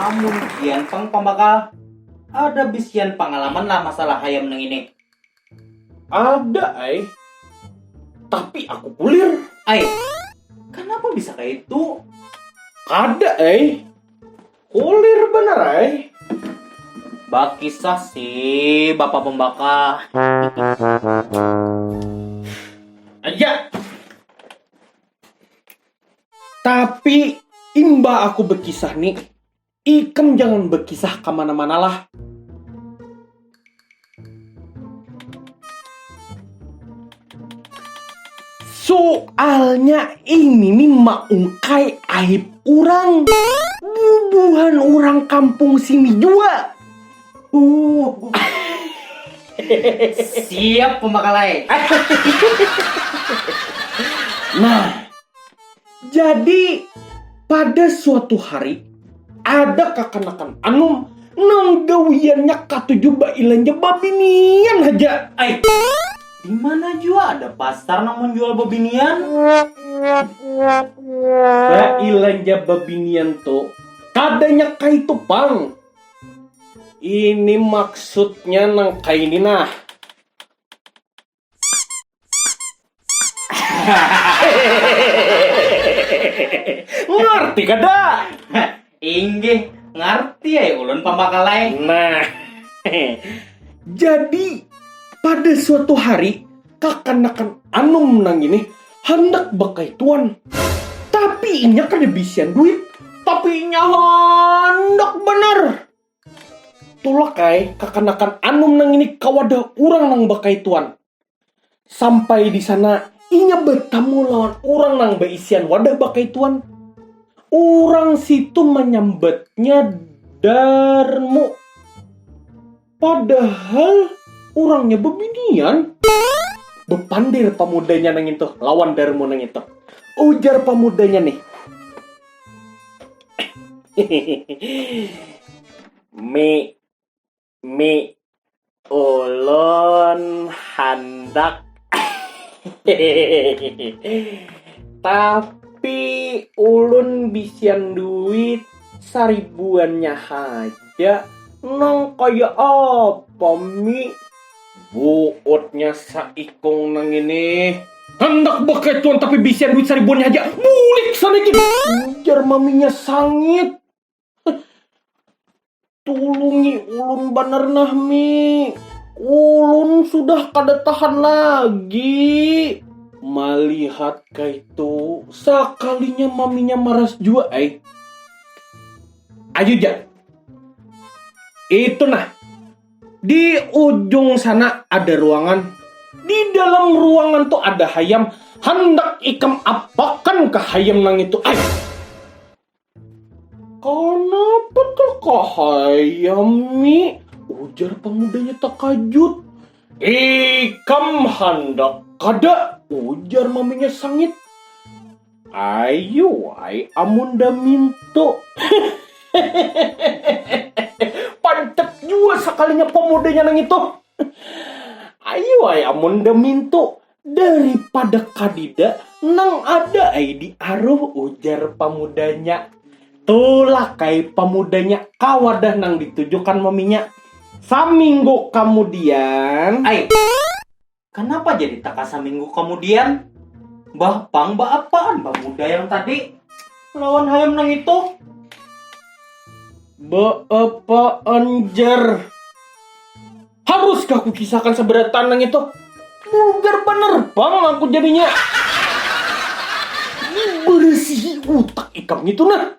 Amun pian pang pambakal, ada bisian pangalaman lah masalah hayam nang ini? Ada ai, tapi aku kulir. Ai, kanapa bisa kaya itu? Kada ai, kulir banar ai. Bakisah si bapak pembakal. Aja. Tapi imba aku bekisah ni, ikam jangan bekisah kamana-mana lah. Soalnya ini nih maungkai aib urang. Bubuhan urang kampung sini jua. Uh. Siap pembakalai. nah, jadi pada suatu hari ada kakanakan anum nang gawiannya katuju bailanja babinian haja. Ay. Di mana jua ada pasar nang menjual bebinian? Bailanja bebinian tu kadanya kaitu pang. Ini maksudnya nang kaini nah. Ngarti kada? Inggih, ngarti ai ulun pambakal ai. Nah, jadi pada suatu hari kakanakan anum nang ini handak bakaituan, tapi inya kada bisian duit. Tapi inya handak banar. Tulak ai kakanakan anum nang ini ka wadah urang nang bakaituan. Sampai di sana inya batamu lawan urang nang baisian wadah bakaituan. Urang situ manyambatnya Darmu. Padahal orangnya bebinian. Bepandir pamudanya nang itu lawan Darmo nang itu. Ujar pamudanya nih. Mi, mi, ulun handak. Tapi ulun bisian duit saribuannya haja. Ya, nang kaya apa, Mi? Buutnya saikung nang ini. Handak beketuan tapi bisian duit saribuannya haja. Bulik sana gin. Ujar maminya sangit. Tulungi ulun banar nah, Mi. Ulun sudah kada tahan lagi. Malihat kaitu, sakalinya maminya maras jua ai. Ayu ja. Itu nah. Di ujung sana ada ruangan. Di dalam ruangan tuh ada hayam. Hendak ikam apakan ke hayam nang itu? Ay. Kenapa tuh ke hayam, Mi? Ujar pemudanya takajut. Ikam hendak kada? Ujar maminya sangit. Ayu ai amun da minto. Pantek jua sakalinya pamudanya nang itu. Ayu ai amun da minto daripada kadida nang ada ai di aruh ujar pamudanya. Tulak ai pamudanya kawadah nang ditujukan maminya. Saminggu kamudian. Ai. Kanapa jadi taka saminggu kamudian? Bah Pang baapaan bah muda yang tadi? Lawan hayam nang itu? Baapaan jar? Haruskah kukisahkan sabarataan nang itu? Bugar banar Pang aku jadinya. Barasihi utak ikam ngitu nah.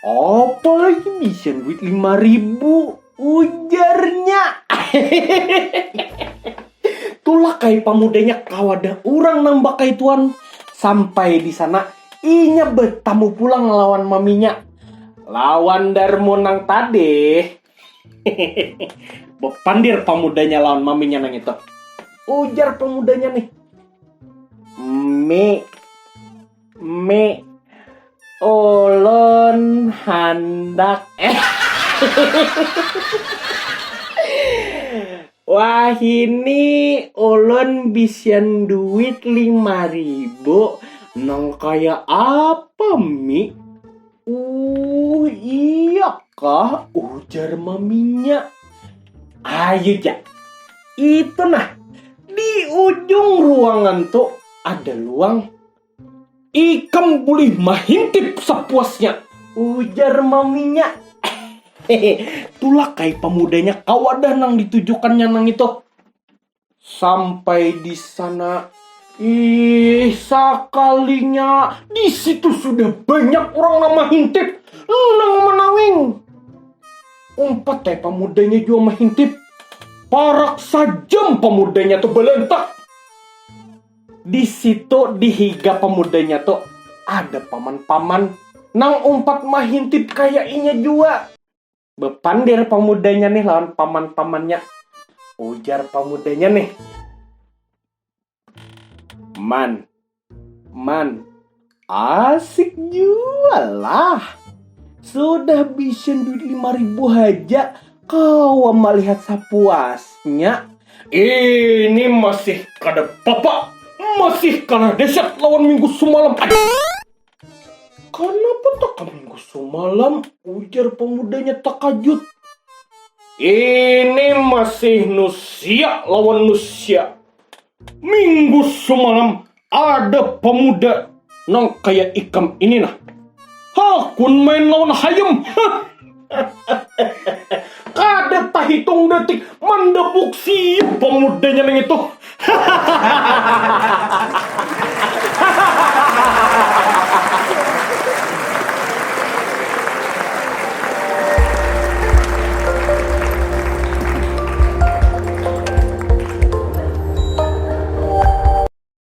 Apa lagi bisa duit lima ribu? Ujarnya. Tulah kai pamudanya kawada urang nang bakaituan. Sampai di sana, inya bertamu pulang lawan maminya. Lawan Darmo nang tadih. Bepandir pamudanya lawan maminya nang itu. Ujar pamudanya nih. Mi, Mi ulun handak eh wahini ulun bisian duit lima ribu nang kaya apa mi uh iya kah ujar maminya ayu ja itu nah di ujung ruangan tu ada luang Ikam bulih mahintip sapuasnya, ujar maminya. Tulak ai pamudanya ka wadah nang ditujukannya nang itu. Sampai di sana, ih sakalinya di situ sudah banyak orang nang mahintip, nang manawing. Umpat ai pamudanya jua mahintip. Parak sajam pamudanya tu balantak. Di situ di higa pamudanya tu ada paman-paman nang umpat mahintip kaya inya jua. Bapandir pamudanya nih lawan paman-pamannya. Ujar pamudanya nih. Man, man, Asik jua lah. Sudah bisin duit lima ribu haja, kau melihat sapuasnya. Ini masih kada papa, masih kalah deset lawan minggu sumalam aja. Kanapa taka minggu sumalam? ujar pamudanya takajut. Ini masih nusia lawan nusia. Minggu sumalam Ada pemuda nang kaya ikam ini nah. Hakun main lawan hayam. Kada tahitung detik mandebuk siap pemudanya nang itu.